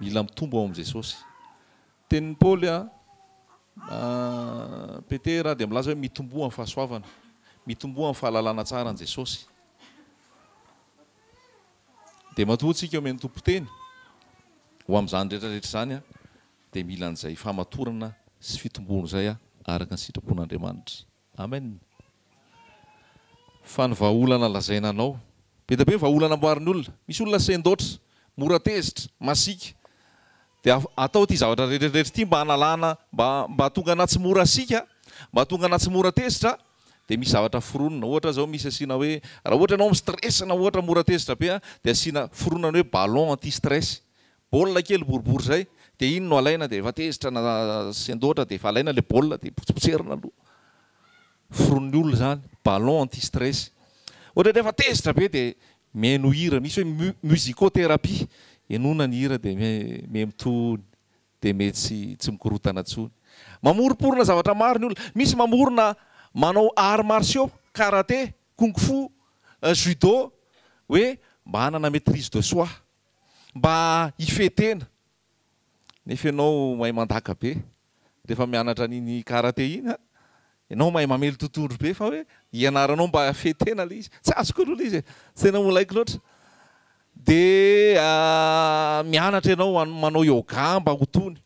Mila mitombo ao amin'i Jesosy. Tenin'i Paoly, Petera, dia milaza hoe mitomboa amin'ny fahasoavana. Mitomboa amin'ny fahalalana tsara an'i Jesosy. Dia matoa antsika omen'ny Tompo teny ho amin'izany rehetra rehetra izany dia mila an'izay famatorana sy fitomboana izay araka ny sitrapon'Andriamanitra. Amen. Fa ny vahaolana lazaina anao. Be dia be ny vahaolana amboarin'ny olona. Misy olona sendoatra, mora tezitra, masiaka. Dia atao ity zavatra rehetrarehetra ity mba hanalana, mba mba hahatonga anà tsy mora siaka, mba hahatonga anà tsy mora tezitra, dia misy zavatra foronina. Ohatra zao misy asiana hoe, raha ohatra ianao mi-stress na ohatra mora tezitra be dia asiana, foronina ny hoe ballon anti-stress. baolina kely boribory izay dia iny no alaina dia efa tezitra na sendoatra dia efa alaina ilay baolina dia potsipotserina aloha foronin'ny olona izany ballon anti stress ohatra hoe efa tezitra be dia mihaino hira misy hoe mu- musicothérapie henoina ny hira dia mi- mihaino tony dia mety tsy tsy mikorotana intsony mamoromporona zavatra maro ny olona misy mamorona manao arts martiaux karate kung fu judo hoe mba hanana maitrise de soi mba hifehy tena nefa ianao mahay mandaka be rehefa mianatra an'iny karate iny an! ianao mahay mamely totohondry be fa hoe hianaranao mba hifehy tena ilay izy tsy azoko aloha ilay izy e! tsy tena molaiko loatra dia mianatra ianao han- manao yoga mba ho tony,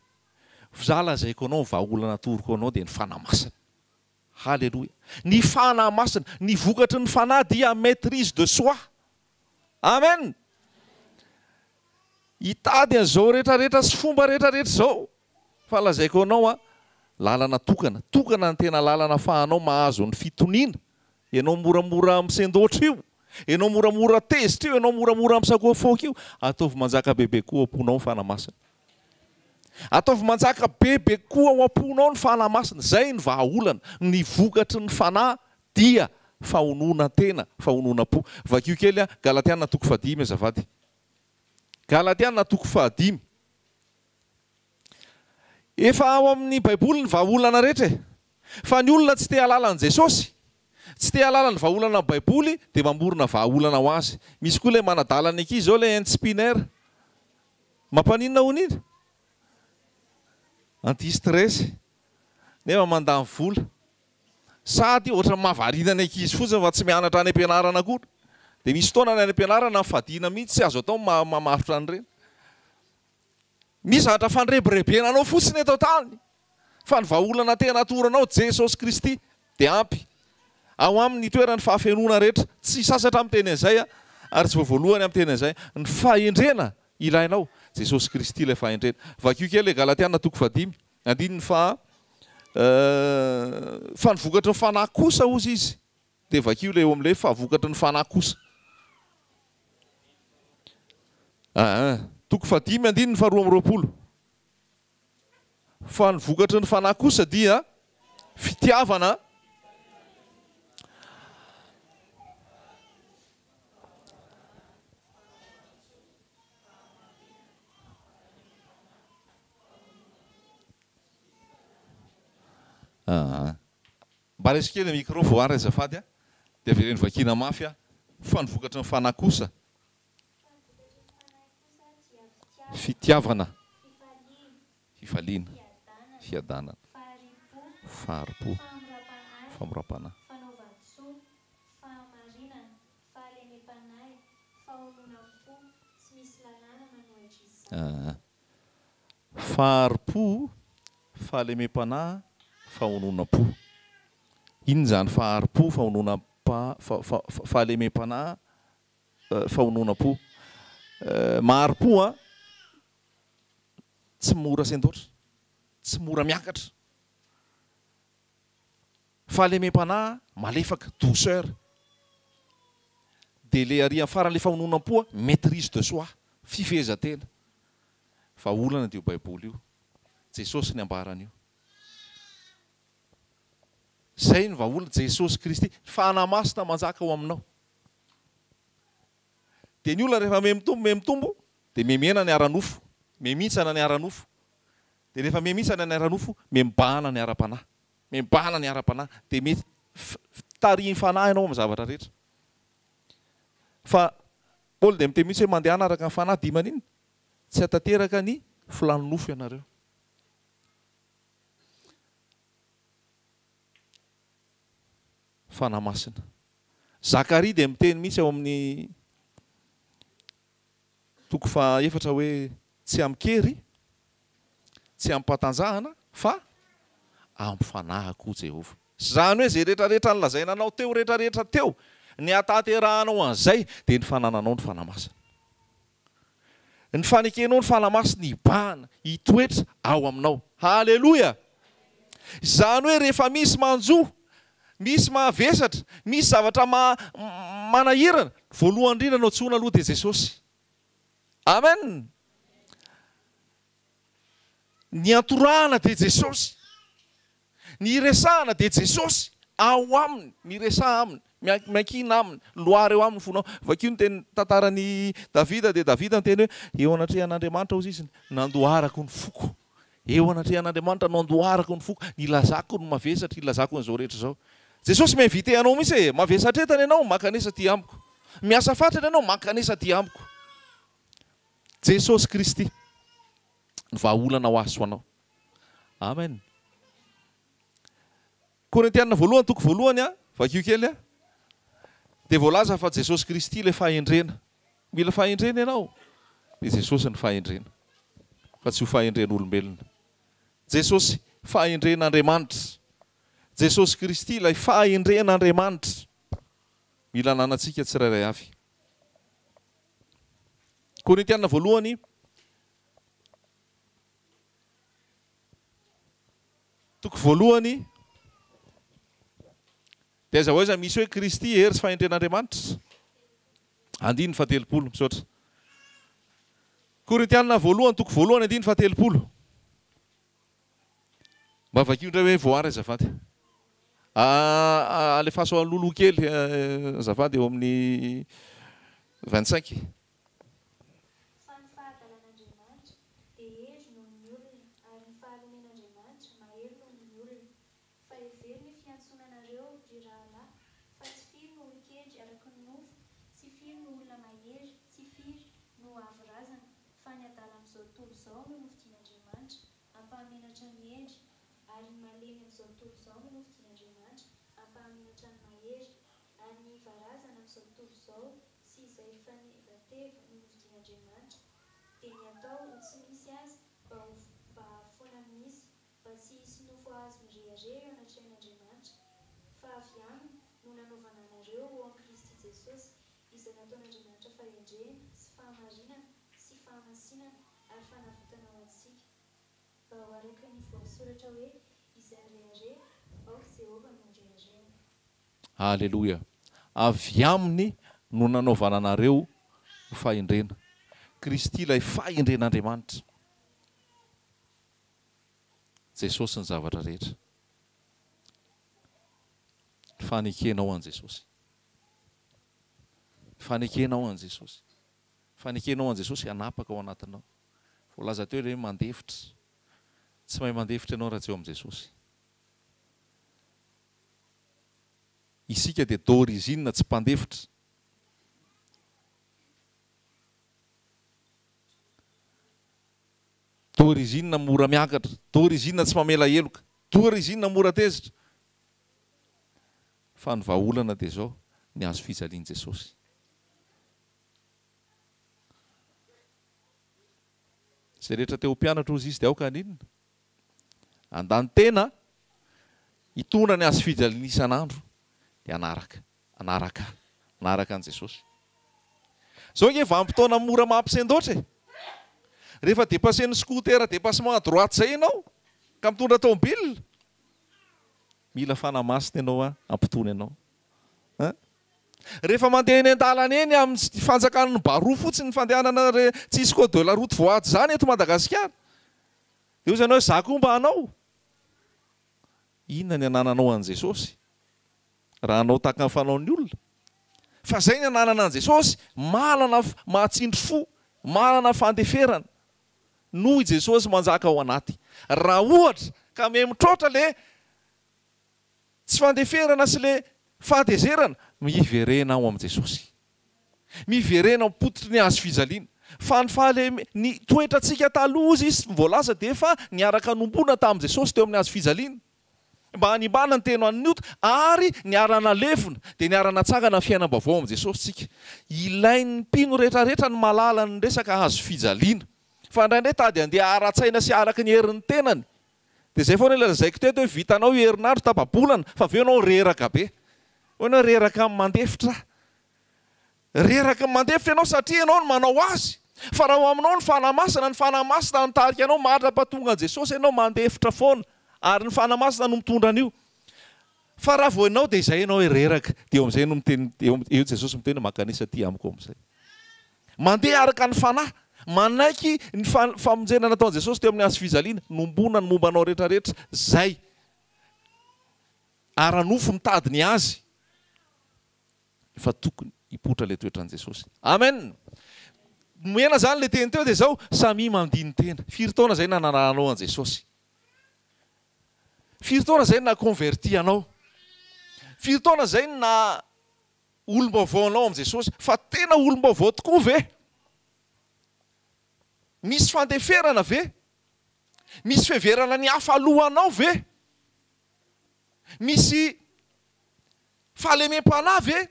fa za lazaiko anao ny vahaolana atoroko anao dia ny fanamasina. Haleloia! Ny Fanahy Masina, ny vokatry ny Fanahy dia maitrise de soi. Amen! Hitady an'izao rehetra rehetra sy fomba rehetra rehetra izao. Fa lazaiko anao an, lalana tokana, tokana ny tena lalana afahanao mahazo ny fitoniana. Ianao moramora misendoatra io, ianao moramora tezitra io, ianao moramora misakoafaoka io, ataovy manjaka bebe koa ao am-ponao ny Fanahy Masina. Ataovy manjaka be be kokoa ao am-ponao ny Fanahy Masina, izay no vahaolana, ny vokatry ny Fanahy dia fahononan-tena, fahononan-po. Vakio kely an, Galatiana toko fahadimy azafady. Galatiana toko fahadimy. Efa ao amin'ny baiboly ny vahaolana rehetra e! Fa ny olona tsy te hahalala an'i Jesosy, tsy te hahalala ny vahaolana amin'ny baiboly dia mamorona vahaolana ho azy. Misy koa ilay manadala ny ankizy izao ilay Ends Spinner. Mampaninona hono iny? Anti stress nefa mandany vola. Sady ohatran'ny mahavariana ny ankizy fotsiny fa tsy mianatra any am-pianarana akory. Dia misy fotoana any am-pianarana fadiana mihitsy tsy azo atao ny mamatotra an'ireny. Misy zavatra fandrebirebena anao fotsiny eto an-tany. Fa ny vahaolana tena atoronao, Jesosy Kristy, dia ampy. Ao Aminy itoeran' ny fahafenoana rehetra. Tsy sasatra miteny an' izay aho, ary tsy vao voalohany aho miteny an' izay. Ny fahendrena ilainao, Jesosy Kristy ilay fahendrena. Vakio kely ilay Galatiana toko fahadimy, andininy faha Fa ny vokatry ny Fanahy kosa, hozy Izy, dia vakio ilay eo amin' ilay hoe fa vokatry ny Fanahy kosa. Aa toko fahadimy andininy faharoa amby roapolo. Fa ny vokatry ny Fanahy kosa dia fitiavana, Mba resy kely ny micro Voary azafady a, dia avereno vakiana mafy a, fa ny vokatry ny Fanahy kosa Fitiavana, fifaliana, fiadanana, fahari-po, famoram-panahy, fanaovan-tsoa, fahamarinana, fahalemem-panahy, fahononam-po, tsy misy lalàna manohitra izany. Fahari-po, fahalemem-panahy, fahononam-po. Inona izany fahari-po, fahononam-panahy, fahalemem-panahy? Fahononam-po. Mahari-po an! Tsy mora sendoatra. Tsy mora miakatra. Fahalemem-panahy malefaka, douceur. Dia ilay arỳ amin'ny farany, ilay fahononam-po an, maitrise de soi, fifehezan-tena. Fa olana dia io Baiboly io. Jesosy ny ambara an'io. Izay ny vahaolana, Jesosy Kristy. Fanahy Masina manjaka ao aminao. Dia ny olona rehefa mihamitombo mihamitombo dia mihamiena ny ara-nofo, mihamintsana ny ara-nofo. Dia rehefa mihamintsana ny ara-nofo, mihamimbahana ny ara-panahy. Mihamimbahana ny ara-panahy. Dia mi tarihin'ny fanahy ianao amin'ny zavatra rehetra. Fa Paoly dia miteny mihitsy hoe mandehana araka ny fanahy dia maninona? Tsy hatanteraka ny filàn'ny nofo ianareo. Fanahy masina. Zakaria dia miteny mihitsy ao amin'ny toko faha efatra hoe tsy amin-kery, tsy amim-patanjahana, fa amin'ny fanahy koa Jehovah. Izany hoe izay rehetra rehetra nolazaina anao teo rehetra rehetra teo, ny hahatanterahanao an'izay dia ny fanananao ny fanahy masina. Ny fanekenao ny fanamasiny hibahana, hitoetra ao aminao. Haleloia! Izany hoe rehefa misy manjo, misy mahavesatra, misy zavatra manahirana, voalohany indrindra no antsoina aloha dia Jesosy. Amen! Ny antorahana dia Jesosy. Ny iresahana dia Jesosy ao aminy, miresaha aminy, miankiana aminy, loara eo aminy ny fonao. Vakio ny teny tantaran'i Davida dia Davida niteny hoe, eo anatrehan'Andriamanitra hozy izy nandoharako ny foko. Eo anatrehan'Andriamanitra no andoharako ny foko, ilazako ny mavesatra, ilazako an'izao rehetra izao. Jesosy mi-invite anao mihitsy e, mavesatra eto any ianao, mankanesa aty amiko. Miasa fatrany ianao, mankanesa aty amiko. Jesosy Kristy ny vahaolana ho ahy sy ho anao. Amen. Korintiana voalohany toko voalohany a, vakio kely a. Dia voalaza fa Jesosy Kristy ilay fahendrena. Mila fahendrena ianao, dia Jesosy ny fahendrena. Fa tsy ho fahendren'olombelona. Jesosy fahendren'Andriamanitra. Jesosy Kristy ilay fahendren'Andriamanitra. Mila ananantsika tsirairay avy. Korintiana voalohany Toko voalohany, dia aiza ho aiza misy hoe Kristy, hery sy fahendren'Andriamanitra? Andininy fahatelopolo, misaotra. Korintiana voalohany, toko voalohany, andininy fahatelopolo. Mba vakio indray hoe voary azafady. Alefaso aloloha kely azafady eo amin'ny 25. Fa ny fahadalan'Andriamanitra dia hery noho ny olona, ary ny faharomen'Andriamanitra mahery noho ny olona. Fa hevero ny fiantsonanareo, ry rahalahy, fa tsy firy no olon-kedry araka ny nofo, tsy firy no olona mahery, tsy firy no avo razana, fa ny adala amin'izao tontolo izao no nofidian'Andriamanitra hampahamenatra ny hendry, ary ny malemy amin'izao tontolo izao no nofidian'Andriamanitra hampahamenatra ny mahery. ary ny varazana amin'izao tontolo izao sy izay fanevateva nonodian'Andriamanitra dia ny atao ho tsy misy azy mba ho mba foana misy mba tsy hisy nofo azy mirehareha eo anatrehan'Andriamanitra fa avy aminy no nanaovana anareo ho ao amin'i Kristy Jesosy izay nataon'Andriamanitra fahendrena sy fahamarinana sy fahamasinana ary fanavotana ho antsika mba ho araka ny voasoratra hoe izay mirehareha aoka Jehovah no reharehany. Aleloia! Avy Aminy no nanaovana anareo ho fahendrena. Kristy ilay fahendren'Andriamanitra. Jesosy ny zavatra rehetra. Fanekenao an'i Jesosy. Fanekenao an'i Jesosy. Fanekenao an'i Jesosy hanapaka ao anatinao. Voalaza teo ilay hoe mandefitra. Tsy mahay mandefitra ianao raha tsy eo amin'i Jesosy. Isika dia d'origine tsy mpandefitra. D'origine mora miakatra. D'origine tsy mamela heloka. D'origine mora tezitra. Fa ny vahaolana dia izao, ny hazo fijalian'i Jesosy. Izay rehetra te ho mpianatra hozy Izy dia aoka haninona? Andanitena, hitondra ny hazo fijaliana isan'andro dia hanaraka, hanaraka ahy, hanaraka an'i Jesosy. Zao ange vanim-potoana mora mampisendoatra e! Rehefa depassen'ny scooter dépassement à droite zay ianao ka mitondra tomobile, mila fanahy masina ianao hoa hampitony anao a! Rehefa mandeha eny an-dalana eny amin'ny fanjakan'ny baroa fotsiny ny fandehanana re, tsisy code de la route voahaja izany eto Madagasikara, Eo izany hoe za koa mba hanao? Inona ny anananao an'i Jesosy? Raha hanao tahaka ny fanaon'ny olona? Fa zay ny ananana an'i Jesosy, manana mahatsindry fo, manana fandeferana. Noho i Jesosy manjaka ao anaty. Raha ohatra ka miha mitroatra le tsy fandeferana sy le fahatezerana, miverena ao amin'i Jesosy. Miverena ao am-pototry ny hazo fijaliana. Fa ny fahaleme, ny toetrantsika taloha, hozy izy voalaza, dia efa niaraka nombona tamin'i Jesosy teo amin'ny hazo fijaliana, mba hanimbana ny tena an'ny ota, ary niara-nalevina, dia niara-natsangana ny fiainam-baovao amin'i Jesosy tsika. Ilain'ny mpino rehetrarehetra ny mahalala ny resaka hazo fijaliana. Fa indraindray tady handeha ara-tsaina sy araka ny herin'ny tenany. Dia izay foana ilay lazaiko teto hoe vitanao io herinandro tapa-bolana fa avy eo ianao reraka be. Hoy ianao hoe reraka amin'ny mandefitra aho. Reraka ny mandefitra ianao satria ianao no manao azy. Fa raha ao aminao ny Fanahy Masina, ny Fanahy Masina no mitarika anao, mandra-pahatongan'i Jesosy ianao mandefitra foana ary ny Fanahy Masina no mitondra an'io. Fa raha vao ianao dia izay ianao hoe reraka, dia eo amin'izay no miteny, eo Jesosy miteny hoe mankanesa aty amiko amin'izay. Mandeha araka ny Fanahy. Manaiky ny famonjena nataon'i Jesosy teo amin'ny Hazo fijaliana, nombona ny momba anao rehetra rehetra izay ara-nofo mitady ny azy, efa tokony hipoitra ilay toetran'i Jesosy. Amen! Nomena izany ilay teny teo dia izao, samia mandini-tena. Firy taona izay nanarahanao an'i Jesosy? Firy taona izay na-converti anao? Firy taona izay na olom-baovao anao amin'i Jesosy. Fa tena olom-baovao tokoa ve? Misy fandeferana ve? Misy fiheverana ny hafa aloha anao ve? Misy fahalemem-panahy ve?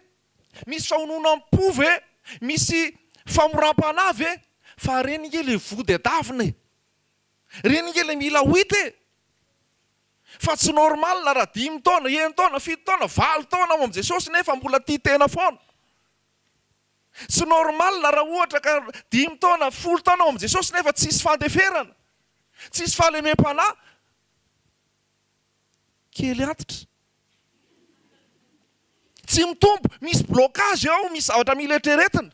Misy fahononam-po ve? Misy famoram-panahy ve? Fa reny ange ilay vody adavina e! Reny ange ilay mila wheat e! Fa tsy normal raha dimy taona, enina taona, fito taona, valo taona ao amin'i Jesosy nefa mbola tia tena foana. Tsy normal raha ohatra ka dimy taona, folo taona ao amin'i Jesosy nefa tsisy fandeferana, tsisy fahalemem-panahy. Kely antitra. Tsy mitombo, misy blocage ao, misy zavatra mila eritreretina.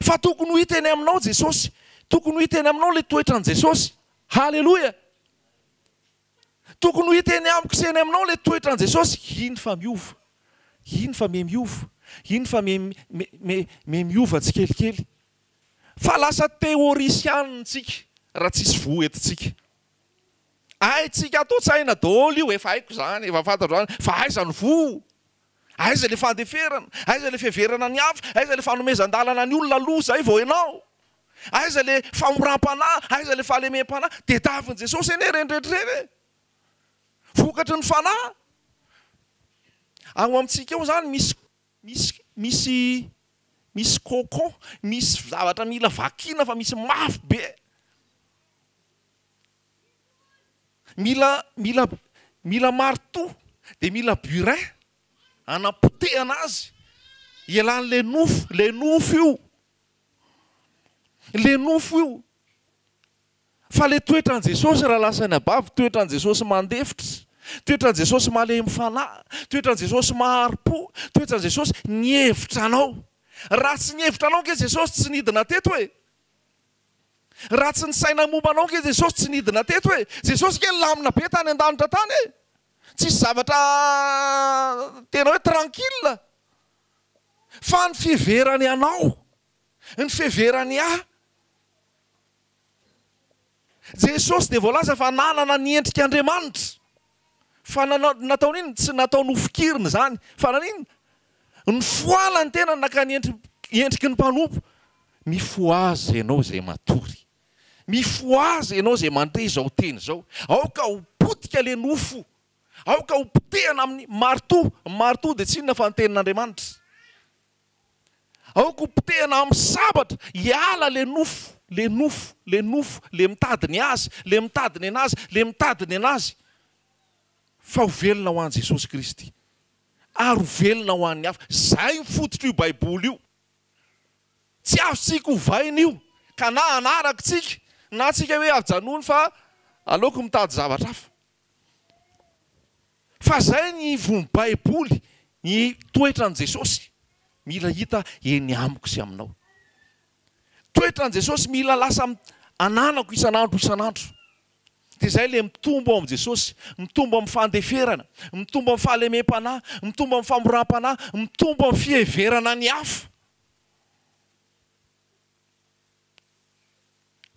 Fa tokony ho hita eny aminao Jesosy. Tokony ho hita eny aminao ilay toetran'i Jesosy. Haleloia! Tokony ho hita eny amiko sy eny aminao ilay toetran'i Jesosy. Iny fa miova. Iny fa miha miova. Iny fa miha miova tsikelikely. Fa lasa teorisianina isika raha tsisy voa eto tsika. Haintsika ato an-tsaina daholo io, efa haiko izany, efa fantatro izany, fa aiza ny voa? Aiza ilay fandeferana? Aiza ilay fiheverana ny hafa? Aiza ilay fanomezan-dalana ny olona aloha izay vao ianao? Aiza ilay famoram-panahy? Aiza ilay fahalemem-panahy? Tediavin'i Jesosy anie ireny rehetra ireny e! Vokatry ny fanahy. Ao amintsika ao izany misy misy misy misy cocon, misy zavatra mila vakiana fa misy mafy be. Mila mila mila marteau dia mila burin hanapotehana azy ialany ilay nofo, ilay nofo io, ilay nofo io. Fa ilay toetran'i Jesosy raha lasan'ny abavy, toetran'i Jesosy mandefitra, toetran'i Jesosy malemy fanahy, toetran'i Jesosy mahari-po, toetran'i Jesosy ny hevitra anao. Raha tsy ny hevitra anao ange Jesosy tsy nidina teto e! Raha tsy nisaina ny momba anao ange Jesosy tsy nidina teto e! Jesosy ange lamina be tany an-danitra tany e! Tsisy zavatra tena hoe tranquille. Fa ny fiheverany anao, ny fiheverany ahy. Jesosy dia voalaza fa nanana ny endrik'Andriamanitra. Fa nataony inona? Tsy nataony ho fikiriny izany, fa naninona? Nifohala ny tenany naka ny endriky ny mpanompo. Mifohaza ianao izay matory. Mifohaza ianao izay mandre izao teny izao. Aoka ho potika ilay nofo. Aoka ho potehana amin'ny maritoa. Ny maritoa dia tsy inona fa ny tenin'Andriamanitra. Aoka ho potehina amin'ny sabatra hiala le nofo, le nofo, le nofo, le mitady ny azy, le mitady ny anazy, le mitady ny anazy, fa ho velona ho an'i Jesosy Kristy ary ho velona ho an'ny hafa. Izay ny fototr'io Baiboly io. Tsy azontsika ovaina io, ka na hanaraka tsika na tsika hoe ajanony fa aleoko mitady zavatra hafa. Fa zay ny ivon'ny baiboly ny toetran'i Jesosy mila hita eny amiko sy aminao. Toetran'i Jesosy mila lasa ananako isan'andro isan'andro. Dia zay le mitombo ao amin'i Jesosy, mitombo amin'ny fandeferana, mitombo amin'ny fahalemem-panahy, mitombo amin'ny famoram-panahy, mitombo amin'ny fiheverana ny hafa.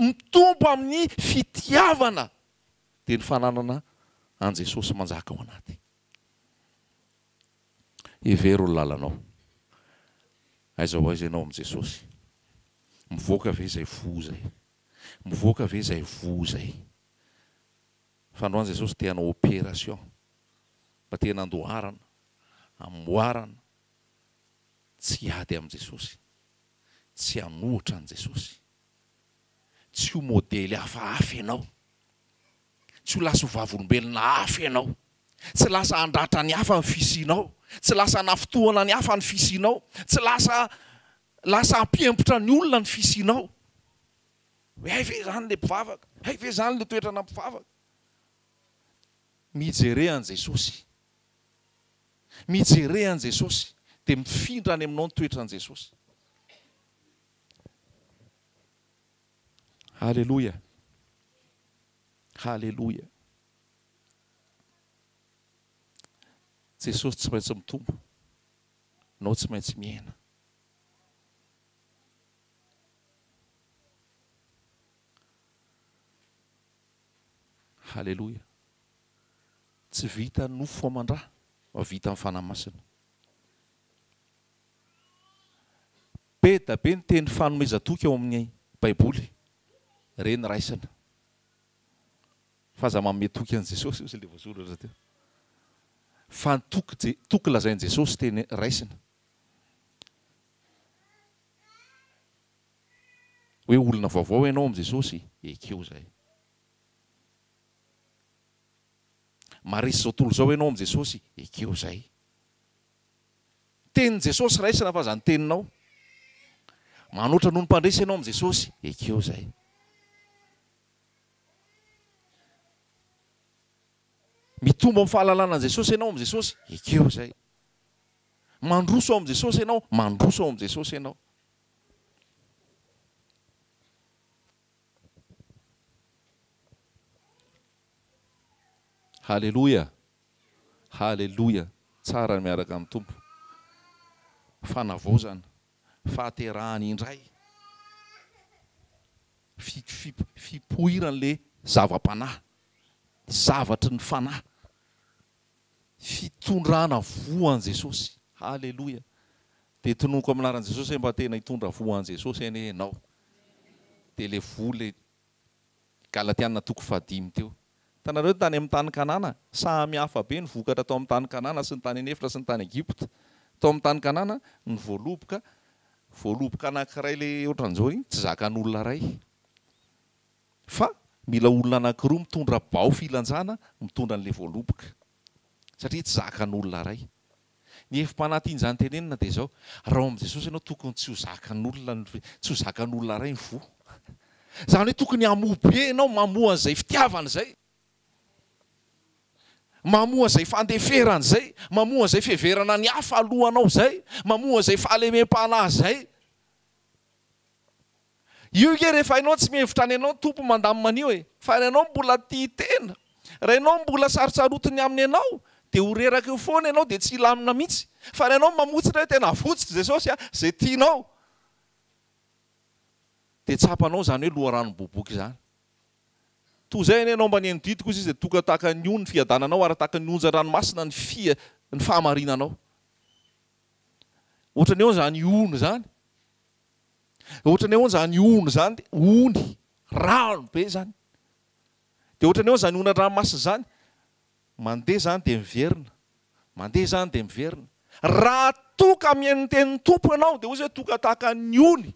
Mitombo amin'ny fitiavana. dia ny fananana an'i Jesosy manjaka ao anaty. Hevero ny lalanao. Aiza ho aiza ianao amin'i Jesosy. Mivoaka ve izay fo izay? Mivoaka ve izay voa izay? Fa androany Jesosy te hanao opération mba te nandoharana, amboarana, tsy hiady amin'i Jesosy, tsy hanohitra an'i Jesosy. Tsy ho modely hafahafa ianao. Tsy ho lasa ho vavolombelona hafa ianao. Tsy lasa handratra ny hafa ny fisianao. Tsy lasa hanafintohina ny hafa ny fisianao. Tsy lasa lasa hampihemotra ny olona ny fisianao. Hoe hay ve izany ilay mpivavaka? Hay ve izany ilay toetrana mpivavaka? Mijere an'i Jesosy. Mijere an'i Jesosy dia mifindra any aminao ny toetran'i Jesosy. Haleloia! Haleloia! Jesosy tsy maintsy mitombo, nao tsy maintsy mihena. Haleloia! Tsy vita nofo aman-dra, fa vita ny Fanahy Masina. Be da be ny teny fanomezan-toky ao amin'ny baiboly re ny raisina fa aza manome toky an'i Jesosy ozy le voasoratra teo fa ny toky je toky lazain'i Jesosy teny raisina hoe olona vaovao ianao amin'i Jesosy ekeo zay maharesy zao tontolo zao ianao amin'i Jesosy ekeo zay Tenin'i Jesosy raisina fa izany teninao. Manoatra noho ny mpandresy ianao amin'i Jesosy, ekeo izay. Mitombo amin'ny fahalalana an'i Jesosy ianao amin'i Jesosy, ekeo izay. Mandroso amin'i Jesosy ianao, mandroso amin'i Jesosy ianao. Haleloia. Haleloia! Tsara ny miaraka amin'ny Tompo. Fanavaozana, fahaterahana indray, fipoiran'ilay zava-panahy, zavatry ny fanahy, fitondrana voa an'i Jesosy. Haleloia! Dia tononiko amin'ny anaran'i Jesosy hoe mba tena hitondra voa an'i Jesosy anie ianao. Dia ilay voa ilay Galatiana toko fahadimy teo. Hitanareo ny tany amin'ny tany Kanana? Samihafa be ny vokatra tao amin'ny tany Kanana sy ny tany an'efitra sy ny tany Egypta. Tao amin'ny tany Kanana, ny voaloboka, voaloboka anankiray ilay ohatran'izao iny, tsy zakan'olona iray. Fa mila olona anankiroa mitondra bao filantsana mitondra an'ilay voaloboka. Satria tsy zakan'olona iray. Ny hevi-panantin'izany tenenina dia izao, raha ao amin'i Jesosy ianao tokony tsy ho zakan'olona ny fe, tsy ho zakan'olona iray ny voa. Izany hoe tokony hamoa be ianao, mamoa an'izay fitiavany izay, mamoa an'izay fandeferany izay, mamoa an'izay fiheverana ny hafa alohanao izay, mamoa an'izay fahalemem-panahy izay. Io nge rehefa enao tsy mihevitra any enao Tompo mandamina anio e! Fa ary enao mbola tia tena, raha enao mbola sarotsarotiny aminy enao dia ho reraka eo foana enao dia tsy hilamina mihitsy fa ary enao mamotsitra hoe tena avotsotra Jesosy a! Zay tianao dia tsapanao izany hoe loharano miboboka izany. Toa izay anie enao mba nihaino didy kosa izy dia toka tahaka ny ony fiadananao ary tahaka ny onjan dranomasina ny fia ny fahamarinanao. Ohatran'ny eo izany ony izany. Ohatran'ny hoe izany ony izany dia ony, rano be izany. Dia ohatran'ny hoe izany ony an-dranomasina izany, mandeha izany dia miverina, mandeha izany dia miverina. Raha toa ka mihaino ny tenin'ny Tompo ianao dia hoy Izy hoe toa ka tahaka ny ony,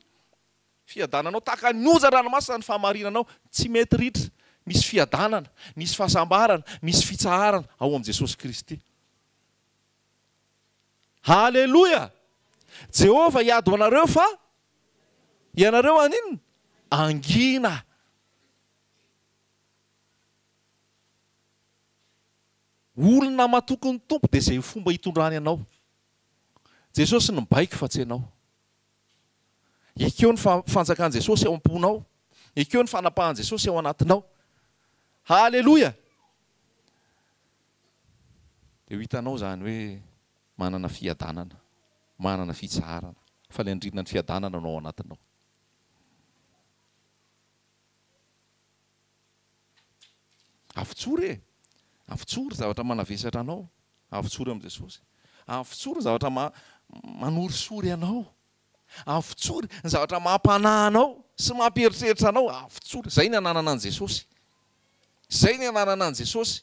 fiadananao, tahaka ny onja an-dranomasina ny fahamarinanao, tsy mety ritra, misy fiadanana, misy fahasambarana, misy fitsaharana ao amin'i Jesosy Kristy. Haleloia! Jehovah hiady ho anareo fa ianareo haninona? Hangina. Olona matoky ny Tompo dia izay fomba hitondrany anao. Jesosy no mibaiko fa tsy ianao. Ekeo ny fanjakan'i Jesosy ao am-ponao. Ekeo ny fanapahan'i Jesosy ao anatinao. Haleloia! Dia ho hitanao izany hoe manana fiadanana, manana fitsaharana, fa ilay andrinan'ny fiadanana no ao anatinao. Avotsory e! Avotsory zavatra manavesatra anao, avotsory amin'i Jesosy. Avotsory ny zavatra ma manorisory anao. Avotsory ny zavatra mampanahy anao sy mampieritreritra anao, avotsory. Izay ny ananana an'i Jesosy. Izay ny ananana an'i Jesosy.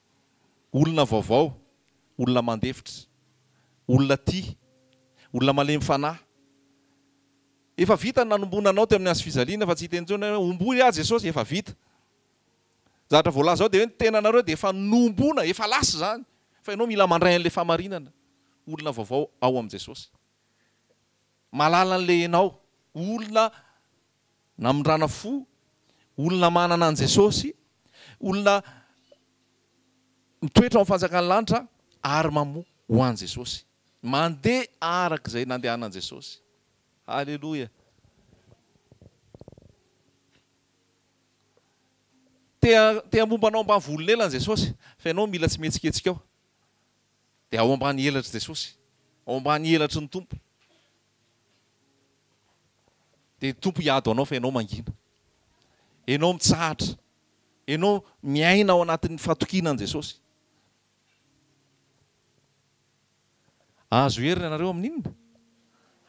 Olona vaovao, olona mandefitra, olona tia, olona malemy fanahy. Efa vita ny nanombonana anao teo amin'ny hazofijaliana fa tsy hiteny intsony hoe omboy aho Jesosy, efa vita. Zavatra voalaza ao dia hoe ny tenanareo dia efa nombona, efa lasa izany fa ianao mila mandray an'ilay fahamarinana, olona vaovao ao amin'i Jesosy. Malala an'ilay ianao, olona Namindrana fo, olona manana an'i Jesosy, olona mitoetra ao amin'ny fanjakan'ny lanitra ary mamoa ho an'i Jesosy, mandeha araka izay nandehanan'i Jesosy. Haleloia! Te te hamomba anao ambany volon'elany Jesosy, fa ianao mila tsy mihetsiketsika ao. Dia ao ambany elatry Jesosy, ao ambany elatry ny Tompo. Dia ny Tompo hiady ho anao fa ianao mangina. Ianao mitsahatra. Ianao miaina ao anatin'ny fahatokiana an'i Jesosy. Ahazo hery ianareo amin'inona?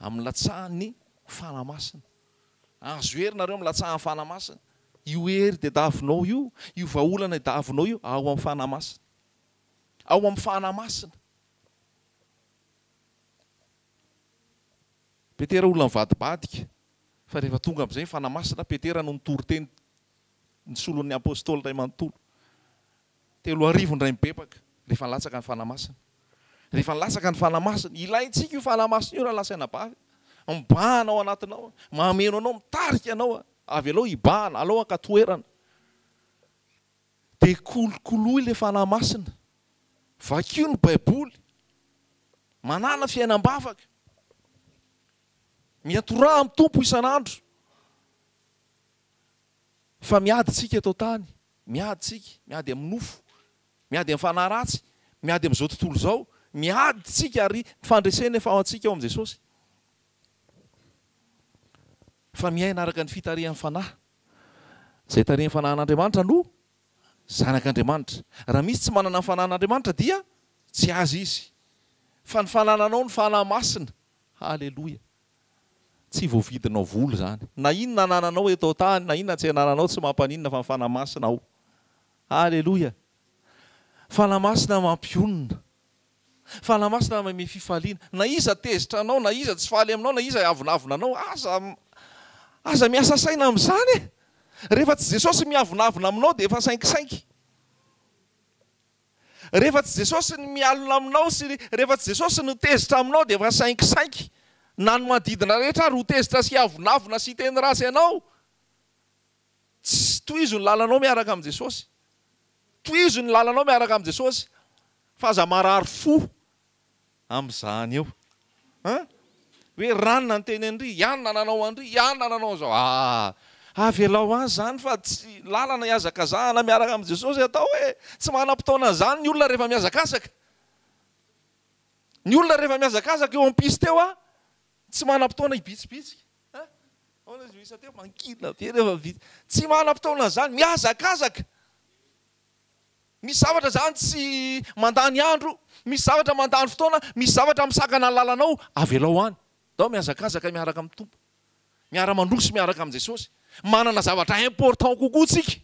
Amin'ny latsahan'ny Fanahy Masina. Ahazo hery ianareo amin'ny latsahan'ny Fanahy Masina. Io hery tadiavinao io, io vahaolana tadiavinao io, ao amin'ny Fanahy Masina. Ao amin'ny Fanahy Masina. Petera olona mivadibadika, fa rehefa tonga amin'izay ny Fanahy Masina, Petera no nitory teny ny solon'ny Apostoly iray manontolo. Telo arivo indray mibebaka, rehefa nilatsaka ny Fanahy Masina. Rehefa nilatsaka ny Fanahy Masina, ilaintsika io Fanahy Masina io raha lasaina bavy. Mibahana ao anatinao, mameno anao, mitarika anao, avelao hibahana, alao haka toerana. Dia kolokoloy ilay Fanahy Masina. Vakio ny Baiboly. Manàna fiainam-bavaka. Miantoraha amin'ny Tompo isan'andro. Fa miady isika eto an-tany. Miady isika. Miady amin'ny nofo. Miady amin'ny fanahy ratsy. Miady amin'izao tontolo izao. Miady isika ary ny fandresena efa ao antsika ao amin'i Jesosy. Fa miaina araka ny fitarihan'ny Fanahy. Izay tarihin'ny fanahin'Andriamanitra no zanak'Andriamanitra. Raha misy tsy manana ny fanahin'Andriamanitra dia tsy azy izy. Fa ny fanananao ny fanahy masina. Haleloia. Tsy voavidinao vola izany. Na inona anananao eto an-tany, na inona tsy anananao tsy mampaninona fa ny fanahy masina ao. Haleloia. Fanahy masina mampionona. Fanahy Masina manome fifaliana. Na iza tezitra anao, na iza tsy faly aminao, na iza avonavona anao, aza, aza miasa saina amin'izany e! Rehefa tsy Jesosy miavonavona aminao dia efa sainkisainky. Rehefa tsy Jesosy ny mialona aminao sy rehefa tsy Jesosy no tezitra aminao dia efa sainkisainky. Na ny manodidina rehetra ary ho tezitra sy hiavonavona sy hiteny ratsy anao. Tsy tohizo ny lalanao miaraka amin'i Jesosy. Tohizo ny lalanao miaraka amin'i Jesosy fa aza marary fo amin'izany eo an! Hoe rany nanteny an-dry, iany nananao an-dry, iany nananao an'izao. Aa! Avelao azy izany fa tsy lalana iazakazahana miaraka amin'i Jesosy atao e! Tsy manam-potoana an'izany ny olona rehefa mihazakazaka. Ny olona rehefa mihazakazaka eo am-piste eo an, tsy manam-potoana hibitsibitsika. An! Ahoana izy no isa teo? Mankinina be rehefa vita. Tsy manam-potoana izany. Mihazakazaka. Misy zavatra izany tsy mandany andro, misy zavatra mandany fotoana, misy zavatra misakana ny lalanao, avelao any. Ndao mihazakazaka miaraka amin'ny Tompo. Miara-mandroso miaraka amin'i Jesosy. Manana zavatra important kokoa tsika.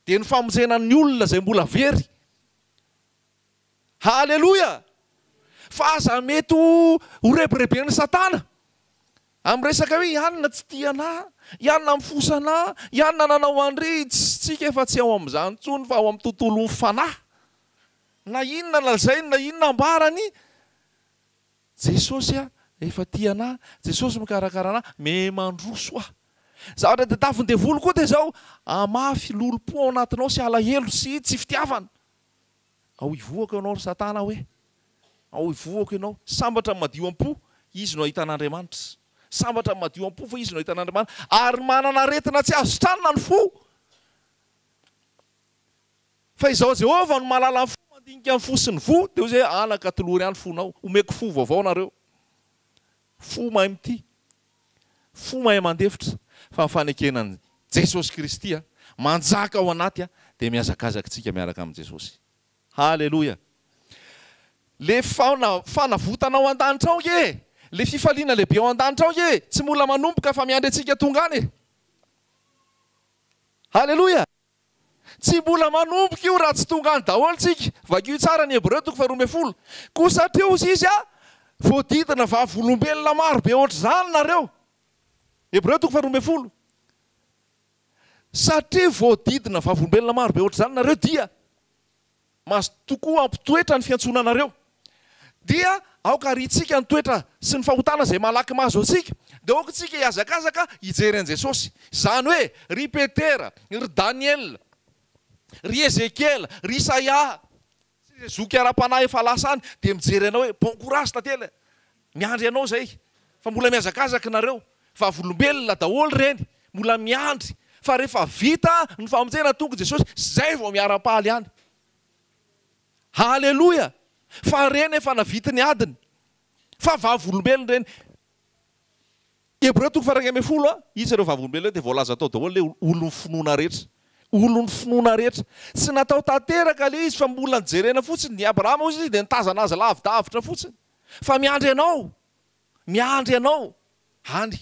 Dia ny famonjena ny olona izay mbola very. Haleloia! Fa aza mety ho ho rebireben'i Satana amin'ny resaka hoe i Anna tsy tia anah, i Anna mifosa anah, i Anna nanao an'irey, tss, tsika efa tsy ao amin'izany intsony fa ao amin'ny tontolon'ny fanahy. Na inona lazainy na inona ambarany, Jesosy a, efa tia anah, Jesosy mikarakara anah, me mandroso aho. Zavatra tadiavin'ny devoly koa dia izao, hamafy lolompo ao anatinao sy alahelo sy tsy fitiavana. Ao hivohako ianao ry Satana hoe. Ao hivohako ianao. Sambatra ny madio am-po, izy no hahita an'Andriamanitra. Sambatra ny madio am-po fa izy no hahita an'Andriamanitra. Ary manana aretina tsy azo tranona ny fo. Fa izaho Jehovah no mahalala ny fo, mandinika ny fo sy ny voa. Dia hoy izy hoe, Anaka, tolory ahy ny fonao. Homeko fo vaovao nareo. Fo mahay mitia. Fo mahay mandefitra. Fa ny fanekena an'i Jesosy Kristy manjaka ao anaty dia mihazakazaka isika miaraka amin'i Jesosy. Haleloia. Ilay fana, fanavotana ao an-danitra ao ange e. Ilay fifaliana lehibe ao an-danitra ao ange e. Tsy mbola manomboka fa miandry antsika tonga any e. Haleloia. Tsy mbola manomboka io raha tsy tonga any daholo tsika. Vakio tsara ny Hebreo toko faharoa ambin'ny folo. Koa satria hozy izy a, voadidina vavolombelona maro be ohatr'izany nareo. Hebreo toko faharoa ambin'ny folo. Satria voadidina vavolombelona maro be ohatr'izany nareo dia. Mazotoa tokoa hampitoetra ny fiantsoana anareo. Dia aoka hariantsika ny toetra sy ny fahotana izay malaky mahazo antsika. Dia aoka isika hihazakazaka hijery an'i Jesosy. Izany hoe, ry Petera, ry Daniela, ry Ezekiela, ry Isaia, sy izay zoky ara-panahy efa lasa any dia mijery anao hoe bon courage tantely e! Miandry anao zay fa mbola mihazakazaka nareo vavolombelona daholo reny mbola miandry fa refa vita ny famonjena tonga jesosy zay vao miarapaly any haleloia fa reny efa navity ny adiny fa vavolombelona reny hebreo toko faharoa ambin'ny folo iza ireo vavolombelona ireo dia voalaza tao daholo le olon'ny finoana rehetra olon'ny finoana rehetra tsy natao tanteraka le izy fa mbola nijerena fotsiny i abrahama ozy izy dia nitazana azy lavidavitra fotsiny fa miandry anao, miandry anao any.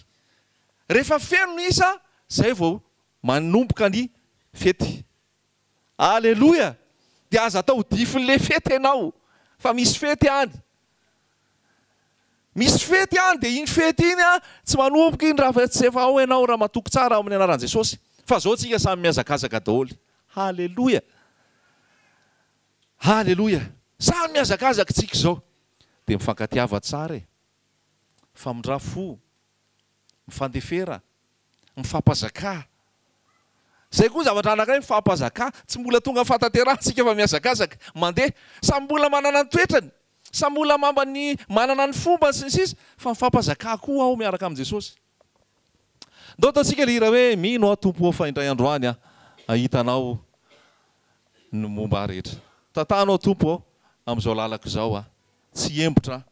Rehefa feno ny isa, zay vao manomboka ny fety. Aleloia! Dia aza atao difin'le fety enao, fa misy fety any. Misy fety any, dia iny fety iny an, tsy manomboka iny raha tsy efa ao enao ramatoako tsara amin'ny anaran'i Jesosy. Fa zao tsika samy mihazakazaka daholo. Haleloia! Haleloia! Samy mihazakazaka tsika izao dia mifankatiava tsara e! Famindra fo, mifandefera, mifampazakà. Izay koa zavatra anankiray mifampazakà, tsy mbola tonga fahatanterahantsika fa mihazakazaka, mandeha. Samy mbola manana ny toetrany, samy olona mambany manana ny fombany sy ny sisa fa mifampazakà koa ao miaraka amin'i Jesosy. Ndao ataontsika ilay hira hoe Mino aho Tompo ô fa indray andro any aho hahita Anao ny momba ahy rehetra. Tantahanao Tompo ô amin'izao lalako izao aho tsy hembotra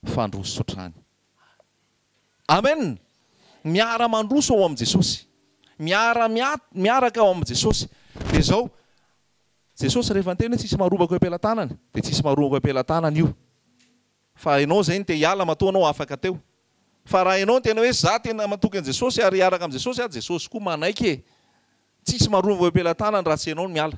fa handroso hatrany. Amen! Miara mandroso ao amin'i Jesosy. Miara miaraka ao amin'i Jesosy. Dia izao, Jesosy rehefa niteny hoe tsisy marombako eo am-pelatanany dia tsisy marombako eo am-pelatanany io. Fa enao izay no te hiala matoa anao afaka teo. Fa raha enao no tena hoe za tena matoky an'i Jesosy ary hiaraka amin'i Jesosy aho, Jesosy koa manaiky e! Tsisy marova eo am-pelatanany raha tsy enao no miala.